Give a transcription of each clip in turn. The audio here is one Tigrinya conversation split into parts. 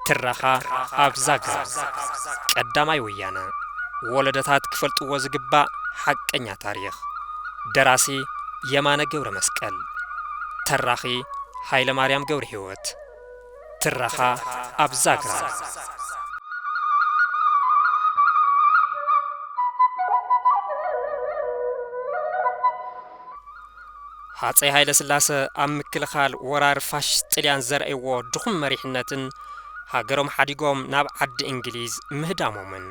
ትረኻ ኣብ ዛግራ ቀዳማይ ወያነ ወለደታት ክፈልጥዎ ዝግባእ ሓቀኛ ታሪኽ ደራሲ የማነ ገብረ መስቀል ተራኺ ሃይለ ማርያም ገብረ ህይወት ትረኻ ኣብ ዛግራ። ሃፀይ ሃይለስላሰ ኣብ ምክልኻል ወራር ፋሽስት ጥልያን ዘርእይዎ ድኹም መሪሕነትን ሃገሮም ሓዲጎም ናብ ዓዲ እንግሊዝ ምህዳሞምን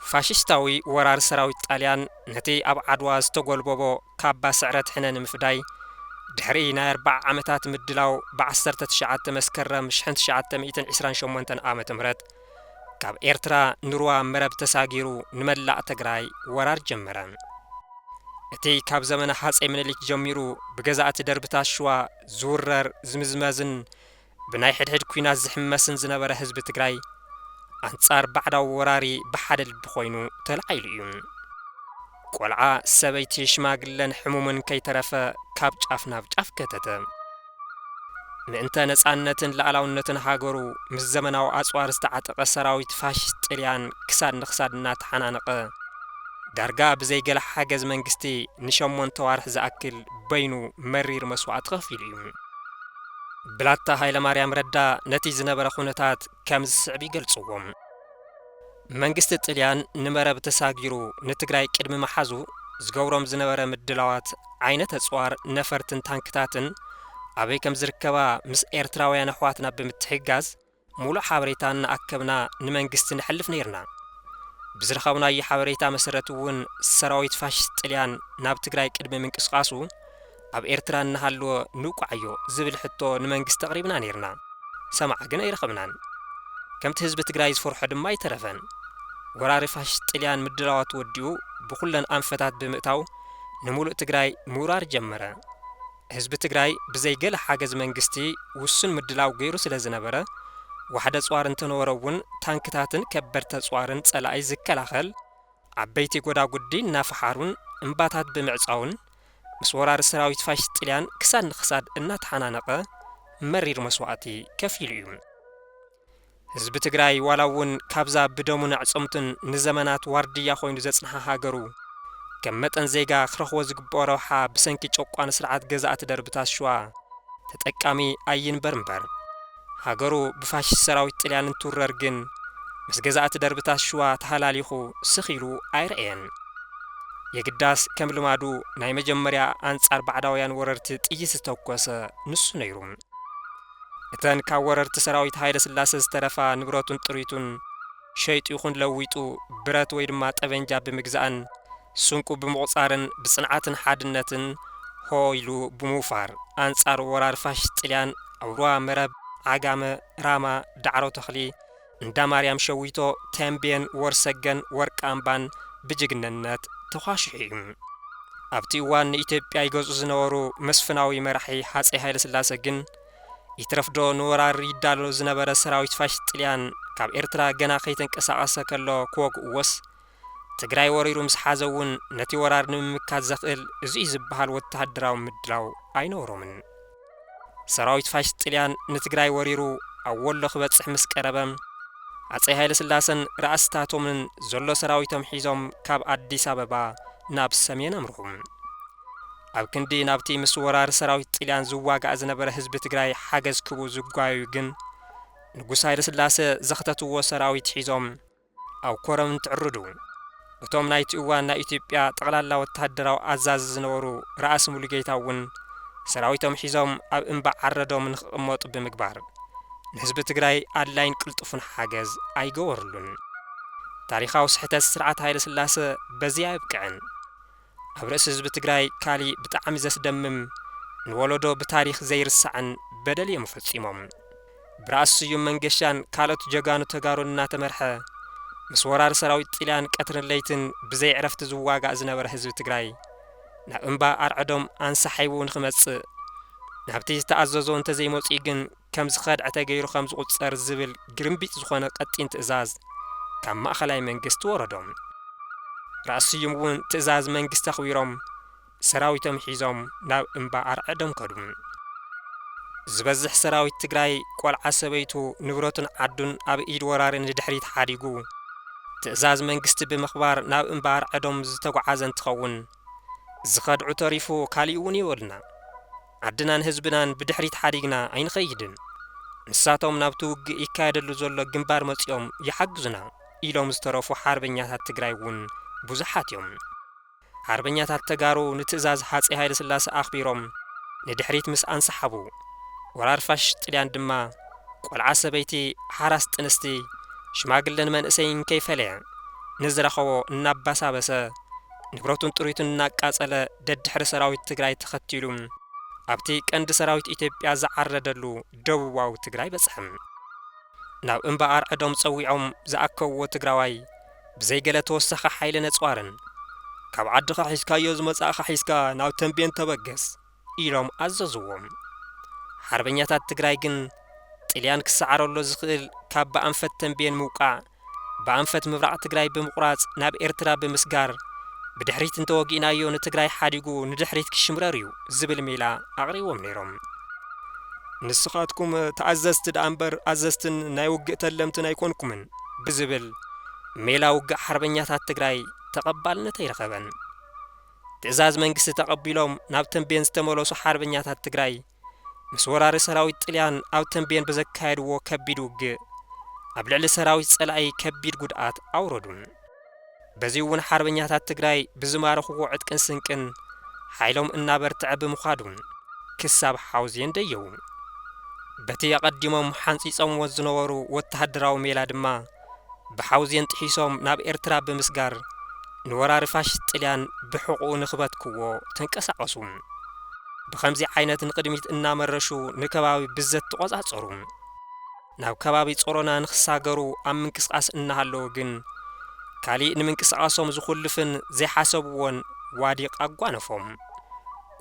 ፋሽስታዊ ወራር ሰራዊት ጣልያን ነቲ ኣብ ዓድዋ ዝተጎልበቦ ካባ ስዕረት ሕነ ንምፍዳይ፣ ድሕሪ ናይ ኣርብዓ ዓመታት ምድላው ብ ዓሰርተ ትሽዓተ መስከረም ሽሕን ትሽዓተ ሚእትን ዒስራን ሸሞንተን ዓመተ ምህረት ካብ ኤርትራ ንሩባ መረብ ተሳጊሩ ንመላእ ተግራይ ወራር ጀመረ። እቲ ካብ ዘመነ ሃጸይ ምኒሊክ ጀሚሩ ብገዛእቲ ደርብታት ሽዋ ዝውረር ዝምዝመዝን ብናይ ሕድሕድ ኲናት ዝሕመስን ዝነበረ ህዝቢ ትግራይ ኣንጻር ባዕዳዊ ወራሪ ብሓደ ልቢ ኮይኑ ተላዒሉ እዩ። ቆልዓ፣ ሰበይቲ፣ ሽማግለን ሕሙምን ከይተረፈ ካብ ጫፍ ናብ ጫፍ ከተተ። ምእንተ ነጻነትን ልኣላውነትን ሃገሩ ምስ ዘመናዊ ኣጽዋር ዝተዓጠቐ ሰራዊት ፋሽስት ጥልያን ክሳድ ንክሳድ እናተሓናነቐ ዳርጋ ብዘይ ገለ ሓገዝ መንግስቲ ንሸሞንተ ኣዋርሕ ዝኣክል በይኑ መሪር መስዋእቲ ከፊሉ እዩ። ብላታ ሃይለማርያም ረዳ ነቲ ዝነበረ ኩነታት ከምዚ ዝስዕብ ይገልጽዎ። መንግስቲ ጥልያን ንመረብ ተሳጊሩ ንትግራይ ቅድሚ ምሓዙ ዝገብሮም ዝነበረ ምድላዋት፣ ዓይነት ኣጽዋር፣ ነፈርትን ታንክታትን ኣበይ ከምዝርከባ ምስ ኤርትራውያን ኣሕዋትና ብምትሕግጋዝ፣ ሙሉእ ሓበሬታ እናኣከብና ንመንግስቲ ነሕልፍ ነይርና። ብዝረኸብናዮ ሓበሬታ መሰረት እውን ሰራዊት ፋሽስት ጥልያን ናብ ትግራይ ቅድሚ ምንቅስቓሱ ኣብ ኤርትራ እናሃለወ ንውቃዕዮ ዝብል ሕቶ ንመንግስቲ ኣቕሪብና ነይርና። ሰማዒ ግን ኣይረኸብናን። ከምቲ ህዝቢ ትግራይ ዝፈርሖ ድማ ኣይተረፈን። ወራሪ ፋሽስት ጥልያን ምድላዋቱ ወዲኡ ብኹለን ኣንፈታት ብምእታው ንሙሉእ ትግራይ ምውራር ጀመረ። ህዝቢ ትግራይ ብዘይ ገለ ሓገዝ መንግስቲ ውሱን ምድላው ገይሩ ስለ ዝነበረ ዋሕዲ ኣፅዋር እንተነበሮ እውን ታንክታትን ከበድቲ ኣፅዋርን ፀላኢ ዝከላኸል ዓበይቲ ጎዳጉዲ እናፈሓሩን እምባታት ብምዕፃውን ምስ ወራሪ ሰራዊት ፋሽስት ጥልያን ክሳድ ንክሳድ እናተሓናነቐ መሪር መስዋእቲ ከፊሉ እዩ። ህዝቢ ትግራይ ዋላ እውን ካብዛ ብደሙን ኣዕፅምቱን ንዘመናት ዋርድያ ኮይኑ ዘፅንሓ ሃገሩ ከም መጠን ዜጋ ክረኽቦ ዝግበኦ ረብሓ ብሰንኪ ጨቋኒ ስርዓት ገዛእቲ ደርብታት ሽዋ ተጠቃሚ ኣይንበር እምበር ሃገሩ ብፋሽስት ሰራዊት ጥልያን እንትውረር ግን ምስ ገዛእቲ ደርብታት ሽዋ ተሃላሊኹ ስኽ ኢሉ ኣይረኣየን። የግዳስ ከም ልማዱ ናይ መጀመርያ ኣንፃር ባዕዳውያን ወረርቲ ጥይት ዝተኮሰ ንሱ ነይሩ። እተን ካብ ወረርቲ ሰራዊት ሃይለስላሰ ዝተረፋ ንብረቱን ጥሪቱን ሸይጡ ይኹን ለዊጡ ብረት ወይ ድማ ጠበንጃ ብምግዛእን ስንቁ ብምቑፃርን ብፅንዓትን ሓድነትን ሆ ኢሉ ብምውፋር ኣንፃር ወራር ፋሽስት ጥልያን ኣብ ሩባ መረብ፣ ዓጋመ፣ ራማ፣ ዳዕሮ ተኽሊ፣ እንዳ ማርያም ሸዊቶ፣ ተምቤን፣ ወርሰገን፣ ወርቂ ኣምባን ብጅግንነት ተዃሽሑ እዩ። ኣብቲ እዋን ንኢትዮጵያ ይገዝኡ ዝነበሩ መስፍናዊ መራሒ ሃፀይ ሃይለስላሰ ግን ይትረፍዶ ንወራር ይዳሎ ዝነበረ ሰራዊት ፋሽስት ጥልያን ካብ ኤርትራ ገና ከይተንቀሳቐሰ ከሎ ክወግኡዎስ ትግራይ ወሪሩ ምስ ሓዘ እውን ነቲ ወራር ንምምካት ዘኽእል እዚ'ዩ ዝበሃል ወተሃደራዊ ምድላው ኣይነበሮምን። ሰራዊት ፋሽስት ጥልያን ንትግራይ ወሪሩ ኣብ ወሎ ክበጽሕ ምስ ቀረበ፣ ሃጸይ ሃይለስላሰን ራእስታቶምን ዘሎ ሰራዊቶም ሒዞም ካብ ኣዲስ ኣበባ ናብ ሰሜን ኣምርሑ። ኣብ ክንዲ ናብቲ ምስ ወራሪ ሰራዊት ጥልያን ዝዋጋእ ዝነበረ ህዝቢ ትግራይ ሓገዝ ክህቡ ዝጓየዩ ግን፣ ንጉስ ሃይለስላሰ ዘኽተትዎ ሰራዊት ሒዞም፣ ኣብ ኮረም እንትዕርዱ፣ እቶም ናይቲ እዋን ናይ ኢትዮጵያ ጠቕላላ ወተሃደራዊ ኣዛዚ ዝነበሩ ራእሲ ሙሉጌታ እውን ሰራዊቶም ሒዞም ኣብ እምባ ዓረዶም ንክቕመጡ ብምግባር ንህዝቢ ትግራይ ኣድላይን ቅልጡፍን ሓገዝ ኣይገበርሉን። ታሪኻዊ ስሕተት ስርዓት ሃይለስላሰ በዚ ኣየብቅዕን። ኣብ ርእሲ ህዝቢ ትግራይ ካሊእ ብጣዕሚ ዘስደምም ንወለዶ ብታሪኽ ዘይርሳዕን በደል እዮም ፈፂሞም። ብራእሲ ስዩም መንገሻን ካልኦት ጀጋኑ ተጋሩን እናተመርሐ ምስ ወራሪ ሰራዊት ጥልያን ቀትርን ለይትን ብዘይዕረፍቲ ዝዋጋእ ዝነበረ ህዝቢ ትግራይ ናብ እምባ ኣርዕዶም ኣንሳሒቡ ንክመፅእ ናብቲ ዝተኣዘዞ እንተዘይመፂኡ ግን ከም ዝኸድዐ ተገይሩ ከም ዝቑጸር ዝብል ግርምቢጥ ዝኾነ ቀጢን ትእዛዝ ካብ ማእኸላይ መንግስቲ ወረዶም። ራእሲ ስዩም እውን ትእዛዝ መንግስቲ ኣኽቢሮም ሰራዊቶም ሒዞም ናብ እምባ ኣርዐዶም ከዱ። ዝበዝሕ ሰራዊት ትግራይ ቆልዓ ሰበይቱ ንብረቱን ዓዱን ኣብ ኢድ ወራሪ ንድሕሪት ሓዲጉ ትእዛዝ መንግስቲ ብምኽባር ናብ እምባ ኣርዐዶም ዝተጉዓዘ እንትኸውን ዝኸድዑ ተሪፉ ካሊእ እውን ይበሉና። ዓድናን ህዝብናን ብድሕሪት ሓዲግና ኣይንኸይድን። ንሳቶም ናብቲ ውግእ ይካየደሉ ዘሎ ግንባር መጺኦም ይሓግዙና ኢሎም ዝተረፉ ሓርበኛታት ትግራይ እውን ብዙሓት እዮም። ሓርበኛታት ተጋሩ ንትእዛዝ ሃፀይ ሃይለስላሰ ኣኽቢሮም ንድሕሪት ምስ ኣንሰሓቡ፣ ወራር ፋሽስት ጥልያን ድማ ቆልዓ ሰበይቲ፣ ሓራስ ጥንስቲ፣ ሽማግለን መንእሰይን ከይፈለየ ንዝረኸቦ እናባሳበሰ፣ ንብረቱን ጥሪቱን እናቃፀለ ደድሕሪ ሰራዊት ትግራይ ተኸቲሉ ኣብቲ ቀንዲ ሰራዊት ኢትዮጵያ ዝዓረደሉ ደቡባዊ ትግራይ በፅሐ። ናብ እምባ ኣርዕዶም ፀዊዖም ዝኣከብዎ ትግራዋይ ብዘይ ገለ ተወሳኺ ሓይሊ ነፅዋርን ካብ ዓድኻ ሒዝካዮ ዝመፃእኻ ሒዝካ ናብ ተምቤን ተበገስ! ኢሎም ኣዘዝዎ። ሓርበኛታት ትግራይ ግን ጥልያን ክሰዓረሎ ዝኽእል ካብ ብኣንፈት ተምቤን ምውቃዕ ብኣንፈት ምብራቕ ትግራይ ብምቑራፅ ናብ ኤርትራ ብምስጋር ብድሕሪት እንተወጊእናዮ ንትግራይ ሓዲጉ ንድሕሪት ክሽምረር እዩ ዝብል ሜላ ኣቕሪቦም ነይሮም። ንስኻትኩም ተኣዘዝቲ ደኣ እምበር ኣዘዝትን ናይ ውግእ ተለምትን ኣይኮንኩምን ብዝብል ሜላ ውግእ ሓርበኛታት ትግራይ ተቐባልነት ኣይረኸበን። ትእዛዝ መንግስቲ ተቐቢሎም ናብ ተምቤን ዝተመለሱ ሓርበኛታት ትግራይ፣ ምስ ወራሪ ሰራዊት ጥልያን ኣብ ተምቤን ብዘካየድዎ ከቢድ ውግእ፣ ኣብ ልዕሊ ሰራዊት ፀላኢ ከቢድ ጉድኣት ኣውረዱ። በዚ'ውን ሓርበኛታት ትግራይ ብዝማረኽዎ ዕጥቅን ስንቅን ሓይሎም እናበርትዐ ብምኻዱ፣ ክሳብ ሓውዜን ደየቡ። በቲ ኣቐዲሞም ሓንፂፆምዎ ዝነበሩ ወተሃደራዊ ሜላ ድማ፣ ብሓውዜን ጥሒሶም ናብ ኤርትራ ብምስጋር ንወራሪ ፋሽስት ጥልያን ብሕቝኡ ንክበትክዎ ተንቀሳቐሱ። ብኸምዚ ዓይነት ንቕድሚት እናመረሹ ንከባቢ ብዘት ተቖጻጸሩ። ናብ ከባቢ ጾሮና ንክሳገሩ ኣብ ምንቅስቓስ እናሃለዉ ግን ካሊእ ንምንቅስቓሶም ዝኹልፍን ዘይሓሰብዎን ዋዲቕ ኣጓነፎም።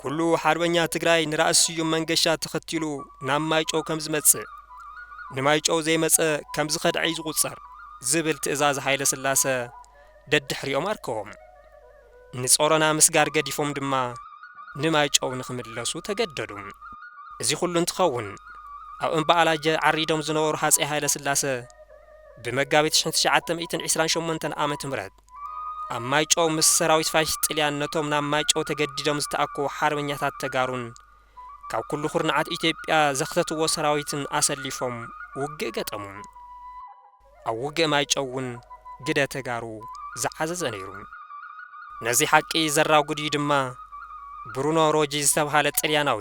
ኩሉ ሓርበኛ ትግራይ ንራእሲ ስዩም መንገሻ ተኸቲሉ ናብ ማይጨው ከም ዝመጽእ ንማይጨው ዘይመጸ ከም ዝኸድዐይ ዝቑጸር ዝብል ትእዛዝ ሃይለ ስላሰ ደድሕሪኦም ኣርከቦም። ንጾሮና ምስጋር ገዲፎም ድማ ንማይጨው ንክምለሱ ተገደዱ። እዚ ኩሉ እንትኸውን ኣብ እምባኣላጀ ዓሪዶም ዝነበሩ ሃጸይ ሃይለ ስላሰ ብመጋቢት ሽሕን ትሽዓተ ሚእትን ዒስራን ሸሞንተን ዓመተ ምህረት ኣብ ማይጨው ምስ ሰራዊት ፋሽስት ጥልያን ነቶም ናብ ማይጨው ተገዲዶም ዝተኣከቡ ሓርበኛታት ተጋሩን ካብ ኩሉ ኩርናዓት ኢትዮጵያ ዘኽተትዎ ሰራዊትን ኣሰሊፎም ውግእ ገጠሙ። ኣብ ውግእ ማይጨው እውን ግደ ተጋሩ ዝዓዘዘ ነይሩ። ነዚ ሓቂ ዘራጉድ እዩ ድማ ብሩኖ ሮጂ ዝተብሃለ ጥልያናዊ።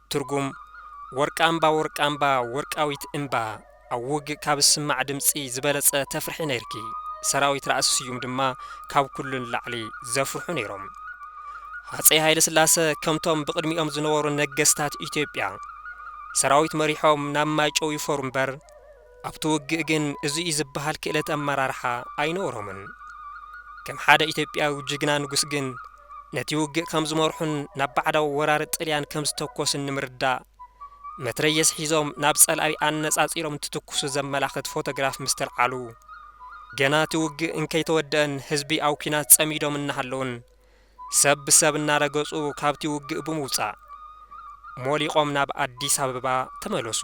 ትርጉም፣ ወርቂ ኣምባ ወርቂ ኣምባ ወርቃዊት እንባ ኣብ ውግእ ካብ ዝስማዕ ድምጺ ዝበለጸ ተፍርሒ ነይርኪ ሰራዊት ራእሲ ስዩም ድማ ካብ ኩሉ ንላዕሊ ዘፍርሑ ነይሮም ሃጸይ ሃይለስላሰ ከምቶም ብቕድሚኦም ዝነበሩ ነገስታት ኢትዮጵያ ሰራዊት መሪሖም ናብ ማይጨው ይፈሩ እምበር ኣብቲ ውግእ ግን እዚ'ዩ ዝበሃል ክእለት ኣመራርሓ ኣይነበሮምን። ከም ሓደ ኢትዮጵያዊ ጅግና ንጉስ ግን ነቲ ውግእ ከም ዝመርሑን ናብ ባዕዳዊ ወራሪ ጥልያን ከም ዝተኮሱን ንምርዳእ መትረየስ ሒዞም ናብ ጸላኢ ኣነጻጺሮም እንትትኩሱ ዘመላኽት ፎቶግራፍ ምስተልዓሉ ገና እቲ ውግእ እንከይተወደኣን ህዝቢ ኣብ ኲናት ጸሚዶም እናሃለዉን ሰብ ብሰብ እናረገጹ ካብቲ ውግእ ብምውጻእ ሞሊቖም ናብ ኣዲስ ኣበባ ተመለሱ።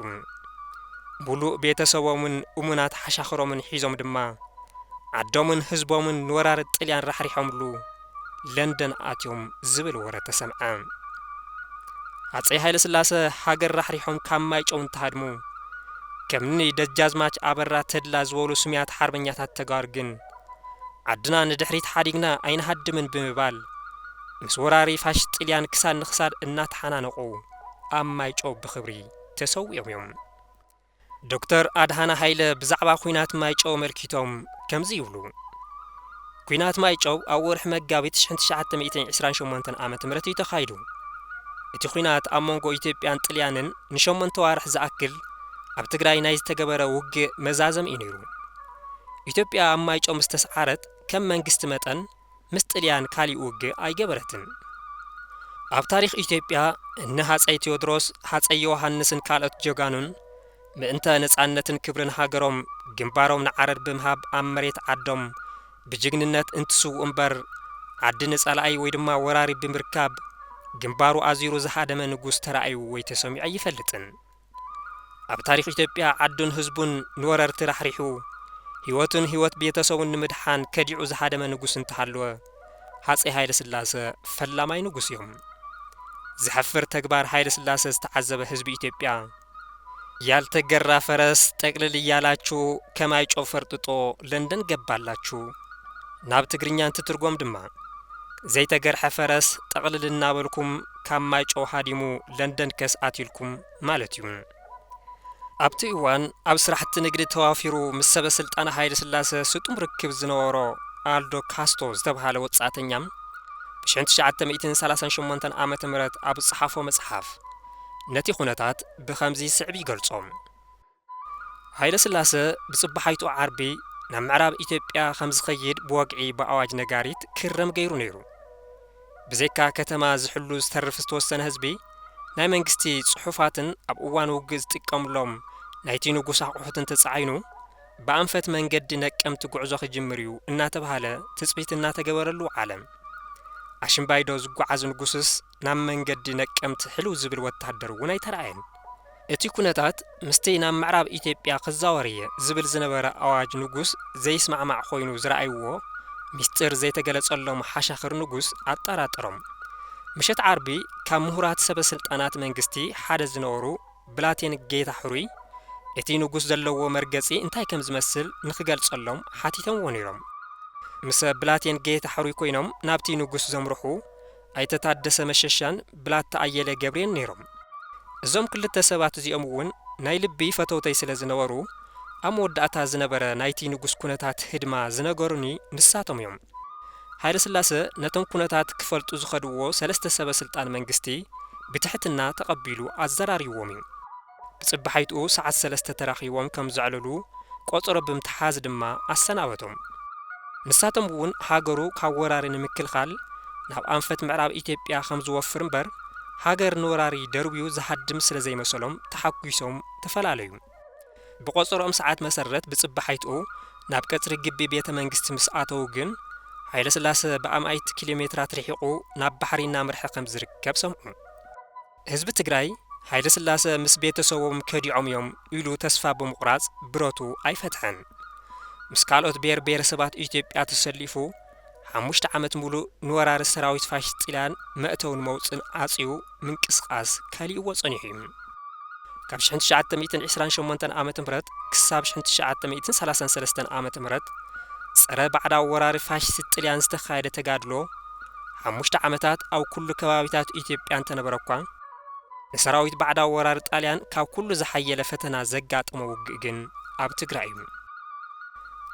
ሙሉእ ቤተሰቦምን እሙናት ሓሻኽሮምን ሒዞም ድማ ዓዶምን ህዝቦምን ንወራሪ ጥልያን ራሕሪሖምሉ ለንደን ኣትዮም ዝብል ወረ ተሰምዐ። ሃጸይ ሃይለስላሰ ሃገር ራሕሪሖም ካብ ማይጨው እንትሃድሙ ከምኒ ደጃዝማች ኣበራ ተድላ ዝበሉ ስሙያት ሓርበኛታት ተጋሩ ግን ዓድና ንድሕሪት ሓዲግና ኣይንሃድምን ብምባል ምስ ወራሪ ፋሽስት ጥልያን ክሳድ ንክሳድ እናተሓናነቑ ኣብ ማይጨው ብኽብሪ ተሰዊኦም እዮም። ዶክተር ኣድሃነ ሃይለ ብዛዕባ ኲናት ማይጨው ኣመልኪቶም ከምዚ ይብሉ፣ ኲናት ማይጨው ኣብ ወርሒ መጋቢት ሽሕን ትሽዓተ ሚእትን ዕስራን ሸሞንተን ዓመተ ምህረት እዩ ተኻይዱ። እቲ ኲናት ኣብ መንጎ ኢትዮጵያን ጥልያንን ንሸሞንተ ኣዋርሕ ዝኣክል ኣብ ትግራይ ናይ ዝተገበረ ውግእ መዛዘሚ እዩ ነይሩ። ኢትዮጵያ ኣብ ማይጨው ምስ ተስዓረት ከም መንግስቲ መጠን ምስ ጥልያን ካሊእ ውግእ ኣይገበረትን። ኣብ ታሪኽ ኢትዮጵያ እነ ሃጸይ ቴዎድሮስ፣ ሃጸይ ዮውሃንስን ካልኦት ጀጋኑን ምእንተ ነጻነትን ክብርን ሃገሮም ግንባሮም ንዓረር ብምሃብ ኣብ መሬት ዓዶም ብጅግንነት እንትስውኡ እምበር ዓዲ ንጸላኢ ወይ ድማ ወራሪ ብምርካብ ግንባሩ ኣዚሩ ዝሃደመ ንጉስ ተራእዩ ወይ ተሰሚዑ ኣይፈልጥን። ኣብ ታሪኽ ኢትዮጵያ ዓዱን ህዝቡን ንወረርቲ ራሕሪሑ፣ ህይወቱን ህይወት ቤተሰቡን ንምድሓን ከዲዑ ዝሃደመ ንጉስ እንተሃለወ ሃፀይ ሃይለስላሰ ፈላማይ ንጉስ እዮም። ዘሕፍር ተግባር ሃይለስላሰ ዝተዓዘበ ህዝቢ ኢትዮጵያ፣ ያልተገራ ፈረስ ጠቅልል እያላቹ ከማይ ጨው ፈርጥጦ ለንደን ገባላቹ፣ ናብ ትግርኛ እንትትርጎም ድማ ዘይተገርሐ ፈረስ ጠቅልል እናበልኩም ካብ ማይጨው ሃዲሙ ለንደን ከስዓት ኢልኩም ማለት እዩ። ኣብቲ እዋን ኣብ ስራሕቲ ንግዲ ተዋፊሩ ምስ ሰበስልጣን ሃይለስላሰ ስጡም ርክብ ዝነበሮ ኣልዶ ካስቶ ዝተብሃለ ወጻእተኛ ብሽሕን ትሽዓተ ሚእትን ሰላሳን ሸሞንተን ዓመተ ምህረት ኣብ ዝጸሓፎ መጽሓፍ ነቲ ኩነታት ብኸምዚ ዝስዕብ ይገልጾ። ሃይለስላሰ ብጽባሓይቱ ዓርቢ ናብ ምዕራብ ኢትዮጵያ ከም ዝኸይድ ብወግዒ ብኣዋጅ ነጋሪት ክረም ገይሩ ነይሩ። ብዘይካ ከተማ ዝሕሉ ዝተርፍ ዝተወሰነ ህዝቢ፣ ናይ መንግስቲ ጽሑፋትን ኣብ እዋን ውግእ ዝጥቀምሎም ናይቲ ንጉስ ኣቑሑትን ተጻዒኑ፣ ብኣንፈት መንገዲ ነቀምቲ ጉዕዞ ክጅምር'ዩ እናተብሃለ ትጽቢት እናተገበረሉ ዓለም ኣሽምባይዶ ዝጓዓዝ ንጉስስ፣ ናብ መንገዲ ነቀምት ሕልው ዝብል ወታደር እውን ኣይተራእየን። እቲ ኩነታት ምስቲ ናብ ምዕራብ ኢትዮጵያ ክዛወር እየ ዝብል ዝነበረ ኣዋጅ ንጉስ ዘይስማዕማዕ ኮይኑ ዝረኣይዎ ሚስጢር ዘይተገለፀሎም ሓሻኽር ንጉስ ኣጠራጠሮም። ምሸት ዓርቢ ካብ ምሁራት ሰበ ስልጣናት መንግስቲ ሓደ ዝነበሩ ብላቴን ጌታ ሕሩይ እቲ ንጉስ ዘለዎ መርገፂ እንታይ ከም ዝመስል ንክገልፀሎም ሓቲቶምዎ ነይሮም። ምስ ብላቴን ጌታ ሕሩይ ኮይኖም ናብቲ ንጉስ ዘምርሑ ኣይተ ታደሰ መሸሻን ብላታ ኣየለ ገብሬን ነይሮም። እዞም ክልተ ሰባት እዚኦም እውን ናይ ልቢ ፈተውተይ ስለ ዝነበሩ፣ ኣብ መወዳእታ ዝነበረ ናይቲ ንጉስ ኩነታት ህድማ ዝነገሩኒ ንሳቶም እዮም። ሃይለስላሰ ነቶም ኩነታት ክፈልጡ ዝኸድዎ ሰለስተ ሰበ ስልጣን መንግስቲ ብትሕትና ተቐቢሉ ኣዘራሪብዎም እዩ። ብጽባሒትኡ ሰዓት ሰለስተ ተራኺቦም ከም ዘዕልሉ ቆጸሮ ብምትሓዝ ድማ ኣሰናበቶም። ንሳቶም እውን ሃገሩ ካብ ወራሪ ንምክልኻል ናብ ኣንፈት ምዕራብ ኢትዮጵያ ከም ዝወፍር እምበር ሃገር ንወራሪ ደርብዩ ዝሃድም ስለ ዘይመሰሎም ተሓጒሶም ተፈላለዩ። ብቆጸሮኦም ሰዓት መሰረት ብጽባሒትኡ ናብ ቀጽሪ ግቢ ቤተ መንግስቲ ምስ ኣተዉ ግን ሃይለስላሰ ብኣማኢት ኪሎሜትራት ርሒቑ ናብ ባሕሪ እናምርሐ ከም ዝርከብ ሰምዑ። ህዝቢ ትግራይ ሃይለስላሰ ምስ ቤተሰቦም ከዲዖም እዮም ኢሉ ተስፋ ብምቑራፅ ብረቱ ኣይፈትሐን። ምስ ካልኦት ብሄር ብሄረሰባት ኢትዮጵያ ተሰሊፉ ሓሙሽተ ዓመት ሙሉእ ንወራሪ ሰራዊት ፋሽስት ጥልያን መእተውን መውፅእን ዓፅዩ ምንቅስቓስ ከሊእዎ ፀኒሑ እዩ። ካብ ሽሕን ትሽዓተ ሚእትን ዒስራን ሸሞንተን ዓመተ ምህረት ክሳብ ሽሕን ትሽዓተ ሚእትን ሰላሳን ሰለስተን ዓመተ ምህረት ፀረ ባዕዳዊ ወራሪ ፋሽስት ጥልያን ዝተኻየደ ተጋድሎ ሓሙሽተ ዓመታት ኣብ ኩሉ ከባቢታት ኢትዮጵያ እንተነበረ'ኳ፣ ንሰራዊት ባዕዳዊ ወራሪ ጣልያን ካብ ኩሉ ዝሓየለ ፈተና ዘጋጠሞ ውግእ ግን ኣብ ትግራይ እዩ።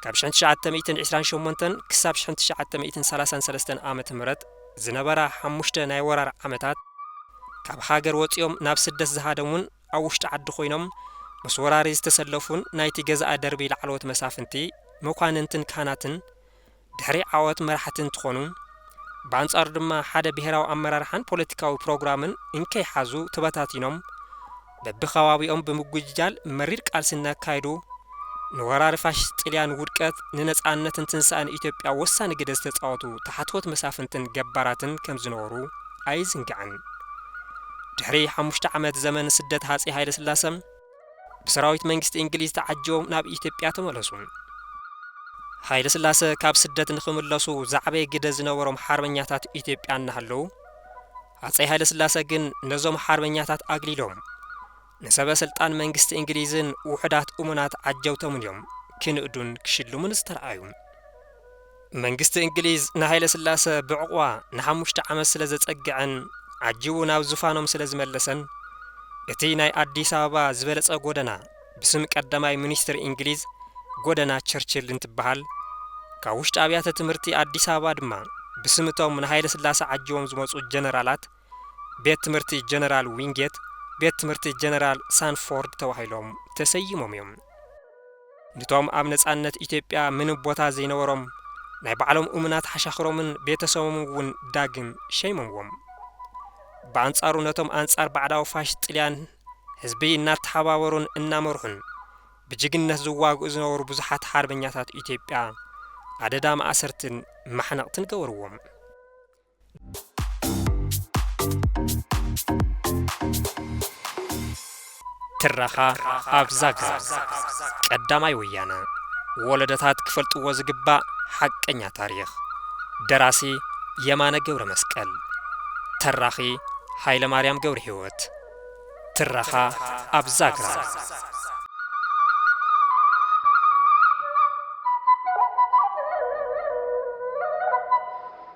ካብ ሽሕን ትሽዓተ ሚእትን ዒስራን ሸሞንተን ክሳብ ሽሕን ትሽዓተ ሚእትን ሰላሳን ሰለስተን ዓመተ ምህረት ዝነበራ ሓሙሽተ ናይ ወራር ዓመታት፣ ካብ ሃገር ወጺኦም ናብ ስደት ዝሃደሙን ኣብ ውሽጢ ዓዲ ኮይኖም ምስ ወራሪ ዝተሰለፉን ናይቲ ገዛኢ ደርቢ ላዕለዎት መሳፍንቲ፣ መኳንንትን ካህናትን፣ ድሕሪ ዓወት መራሕቲ እንትኾኑ፣ ብኣንፃሩ ድማ ሓደ ብሄራዊ ኣመራርሓን ፖለቲካዊ ፕሮግራምን እንከይሓዙ ተበታቲኖም በቢከባቢኦም ብምጉጅጃል መሪር ቃልሲ እናካየዱ ንወራሪ ፋሽስት ጥልያን ውድቀት ንነፃነትን ትንሳኤን ኢትዮጵያ ወሳኒ ግደ ዝተፃወቱ ተሓትወት መሳፍንትን ገባራትን ከምዝነበሩ ኣይዝንጋዕን። ድሕሪ ሓሙሽተ ዓመት ዘመን ስደት ሃፄ ሃይለስላሰ፣ ብሰራዊት መንግስቲ እንግሊዝ ተዓጂቦም ናብ ኢትዮጵያ ተመለሱ። ሃይለስላሰ ካብ ስደት ንኽምለሱ ዝዓበየ ግደ ዝነበሮም ሓርበኛታት ኢትዮጵያ እናሃለዉ፣ ሃፀይ ሃይለስላሰ ግን ነዞም ሓርበኛታት ኣግሊሎም ንሰበ ስልጣን መንግስቲ እንግሊዝን ውሑዳት እሙናት ዓጀውቶምን እዮም ክንእዱን ክሽልሙን ዝተርኣዩ። መንግስቲ እንግሊዝ ንሃይለስላሰ ብዕቑባ ንሓሙሽተ ዓመት ስለ ዘጸግዐን ዓጂቡ ናብ ዙፋኖም ስለ ዝመለሰን፣ እቲ ናይ ኣዲስ ኣበባ ዝበለጸ ጎደና ብስም ቀዳማይ ሚኒስትር እንግሊዝ ጎደና ቸርችል እንትበሃል፣ ካብ ውሽጢ ኣብያተ ትምህርቲ ኣዲስ ኣበባ ድማ ብስም እቶም ንሃይለስላሰ ዓጂቦም ዝመጹ ጀነራላት ቤት ትምህርቲ ጀነራል ዊንጌት፣ ቤት ትምህርቲ ጀነራል ሳንፎርድ ተባሂሎም ተሰይሞም እዮም። ንቶም ኣብ ነጻነት ኢትዮጵያ ምንም ቦታ ዘይነበሮም ናይ ባዕሎም እሙናት ሓሻኽሮምን ቤተሰቦምን እውን ዳግም ሸይሞምዎም። ብኣንጻሩ ነቶም ኣንጻር ባዕዳዊ ፋሽስት ጥልያን ህዝቢ እናተሓባበሩን እናመርሑን ብጅግንነት ዝዋግኡ ዝነበሩ ብዙሓት ሓርበኛታት ኢትዮጵያ ኣደዳ ማእሰርትን ማሕነቕትን ገበርዎም። ትረኻ ኣብ ዛግራ ቀዳማይ ወያነ ወለደታት ክፈልጥዎ ዝግባእ ሓቀኛ ታሪኽ ደራሲ የማነ ገብረ መስቀል ተራኺ ኃይለ ማርያም ገብረ ሕይወት ትረኻ ኣብ ዛግራ